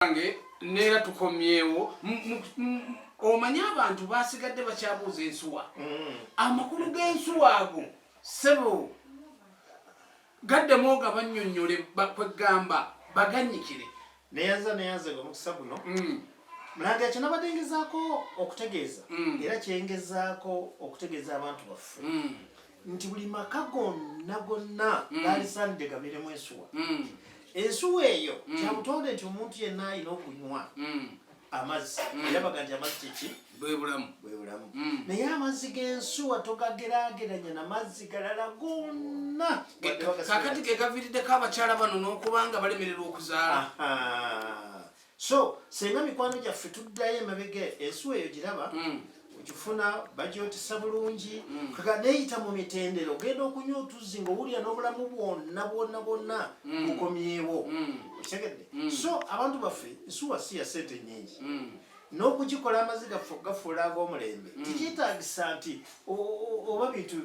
banange neera tukomyewo omanyi abantu basigadde bakyabuuza ensuwa mm. amakulu g'ensuwa ago sebo gaddemu nga bannyonnyole kweggamba bagannyikire neyanza neyanza nga omukisa guno mm. mulanga ekyo nabadde ngezaako okutegeeza mm. era kyengezaako okutegeeza abantu baffe nti buli maka gonna gonna mm. gaalisaanidde gabeeremu ensuwa mm. ensuwa eyo mm. kyabutonde nti omuntu yenna alina okunywa amazzi era baga nti amazzi kyeki bwebulamu bwebulamu naye amazzi g'ensuwa togagerageranya na mazzi galala gonna kakati gegaviiriddeko abakyala bano n'okubanga balemererwa okuzaala so senga mikwano gyaffe tuddayo emabega ensuwa eyo giraba hmm. okifuna bagyotisa bulungi hmm. kaga neyita mu mitendera ogenda okunywa otuzzi nga owulira n'obulamu bwonna bwonna bwonna hmm. bukomyewo okitegedde so abantu baffe nsuwa si ya sente nyingi n'okugikola amaziga ffe okugafuula ag'omulembe tikyetagisa nti oba bintu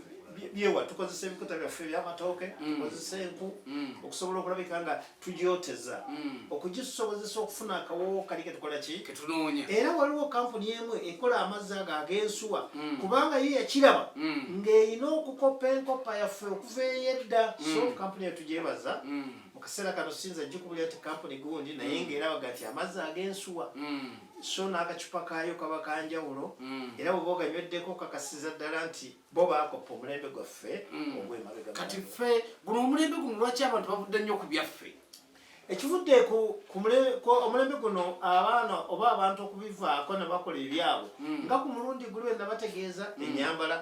byewa tukozesa ebikuta byaffe ebyamatooke mm. tukozesa enku mm. okusobola okulabika nga tugyoteza mm. okugisobozesa okufuna akawowo kali ketukola ki ketunoonya era waliwo kampuni emu ekola amazzi ago ag'ensuwa mm. kubanga ye yakiraba mm. ng'erina okukoppa enkoppa yaffe okuva eyedda mm. so kampuni yetugyebaza mm. mu kaseera kano sinza gikubulira ti kampuni gundi naye mm. ng'era baga ti amazzi ag'ensuwa mm. so n'akacupa kaayo kaba kanjawulo mm. era bwebaoganyweddeko kakasiza ddala nti bo baakoppa omulembe gwaffe mm. ogwemabega kati ffe guno omulembe guno lwaki abantu bavudde nnyo ku byaffe ekivudde ku omulembe guno abaana oba abantu okubivaako ne bakola ebyabwe mm. nga ku mulundi guli wena bategeeza mm. enyambala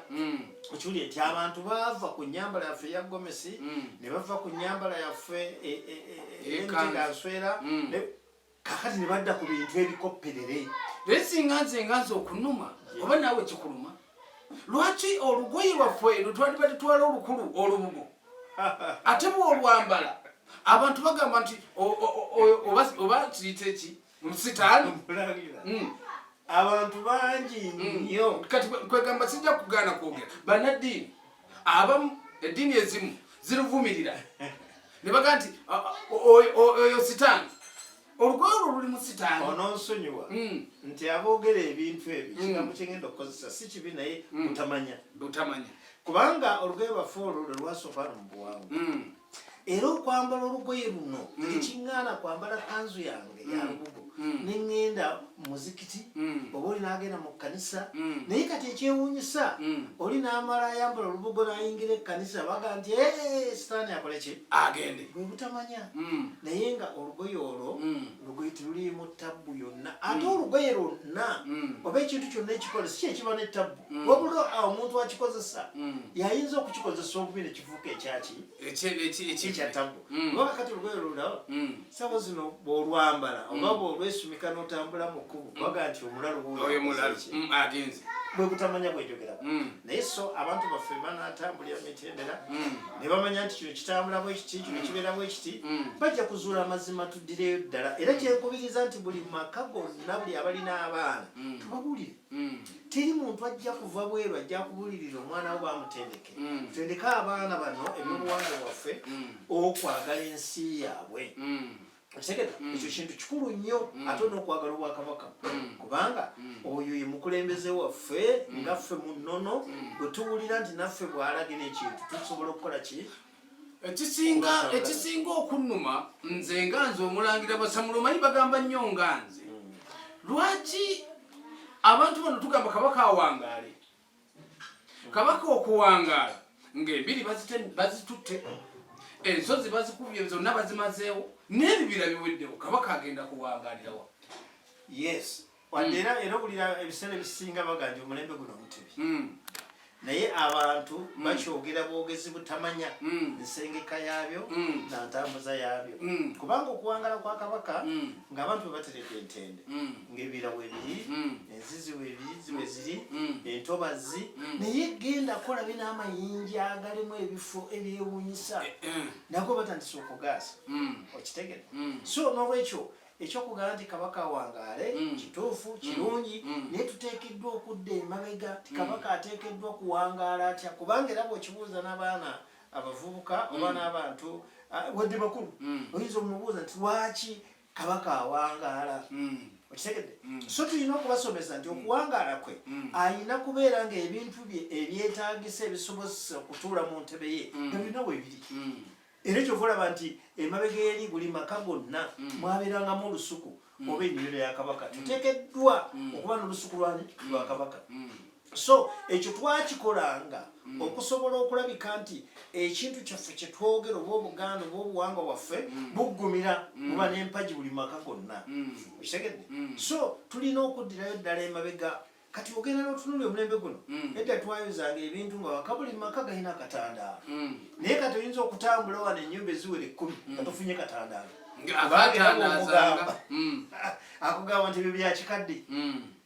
okiwuli nti abantu baava ku nyambala yaffe eya gomesi ne bava ku nyambala yaffe e, e, e, eyemitega nswera kakati ne badda ku bintu ebikopperere naye singa nze nga nze okunuma oba naawe kikuluma lwaki olugoye lwaffe eno twali batutwala olukulu olubugo ate bwolwambala abantu bagamba nti oba kiyita eki musitaani hmm. abantu bangi hmm. nnyo kati kwegamba sijja kugaana kwogera banaddiini abamu eddiini ezimu ziruvumirira ne baga nti oyo sitaani olugoye olwo luli mu sitaani ononsonyiwa hmm. nti aboogera ebintu ebyo hmm. kigambo kyengenda okukozesa si kibi naye hmm. butamanya butamanya kubanga olugoye lwaffe olwo lwe lwasooka no mu buwangwa era okwambala olugoye luno mm. tekiŋŋaana kwambala kanzu yange mm. yalubugo mm. ne ŋŋenda muzikiti oba oli n'agenda mu kkanisa naye kati ekyewuunyisa oli n'amala ayambala olubugo n'ayingira ekkanisa baga nti sitaani akole ki agende bwe butamanya naye nga olugoye olwo lugoye teruliimu tabbu yonna ate olugoye lwonna oba ekintu kyonna ekikola si kyekiba ne tabbu wabula omuntu akikozesa yayinza okukikozesa obubi nekif kifuuka ekyaki ekya tabu mm. oba kakati olugoye olulaba mm. sabo zino bwolwambala mm. oba bwolwesumika notambula mu kkubo baga nti omulalu agenze bwebutamanya bwejogera naye so abantu baffe banatambulira mitendera ne bamanya nti kino kitambula bwekiti kino kibeera bwekiti bajja kuzuula amazima tuddireyo ddala era kyenkubiriza nti buli maka gonna buli abalina abaana tubabuulire teri muntu ajja kuva bweru ajja kubuulirira omwana wo bamutendeke mm. tendeke abaana bano mm. ebyobuwanga bwaffe mm. okwagala ensi yaabwe okitegera ekyo kintu kikulu nnyo ate olina okwagala obwakabaka kubanga oyo ye mukulembeze waffe nga ffe mu nnono bwe tuwulira nti naffe bw'alagina ekintu tusobola okukola ki ekisinga ekisinga okunnuma nze nga nze omulangira basamulumanyi bagamba nnyo nga nze lwaki abantu bano tugamba kabaka awangaale kabaka okuwangaala ng'embiri bazitutte ensozi bazikubye zonna bazimazeewo n'ebibira biweddewo kabaka agenda kuwangaalirawa yes wadde era era owulira ebiseera ebisinga baganja omulembe guno omutebi hmm. naye abantu hmm. bakyogera bwogezi butamanya hmm. nsengeka yaabyo na ntambuza yaabyo kubanga okuwangala kwa kabaka ng'abantu bwe bateredde entende ng'ebirawo ebiri enziziwe ebiyizi we ziri mm. entobazzi mm. naye genda kola bina amayinja agalimu ebifo ebyewunyisa eh, eh. nago batandisa okugaasa mm. okitegere so nolwekyo ekyokugamba nti kabaka wangaale kituufu kirungi naye tuteekeddwa okudda emabega ti kabaka ateekeddwa kuwangaala atya kubanga era bwekibuuza n'abaana abavubuka oba n'abantu ah, wadde bakulu oyinza omubuuza nti lwaki kabaka awangaala mm. okitegedde mm. so tulina okubasomesa nti okuwangaala kwe mm. alina kubeera nga ebintu bye ebyetagisa ebisobozesa okutuula mu ntebe ye ebirina webiri era ekyo volaba nti emabega eri buli maka gonna mwabeerangamu olusuku oba ennimiro ya kabaka tutekeddwa okuba n'olusuku lwani lwa kabaka so ekyo twakikolanga mm. okusobola okulabika nti ekintu kyaffe kyetwogera oba obuganda oba obuwangwa bwaffe mm. buggumira mm. buba nempagi buli maka gonna okitegedde so tulina okuddirayo ddala emabega kati ogenda notunuli omulembe guno mm. edda twayozanga ebintu nga wakabuli maka galina akatandaalo mm. naye kati oyinza okutambula wano enyumba eziwera ekkumi mm. katufunye katandaalo akugamba nti ebyo byakikadde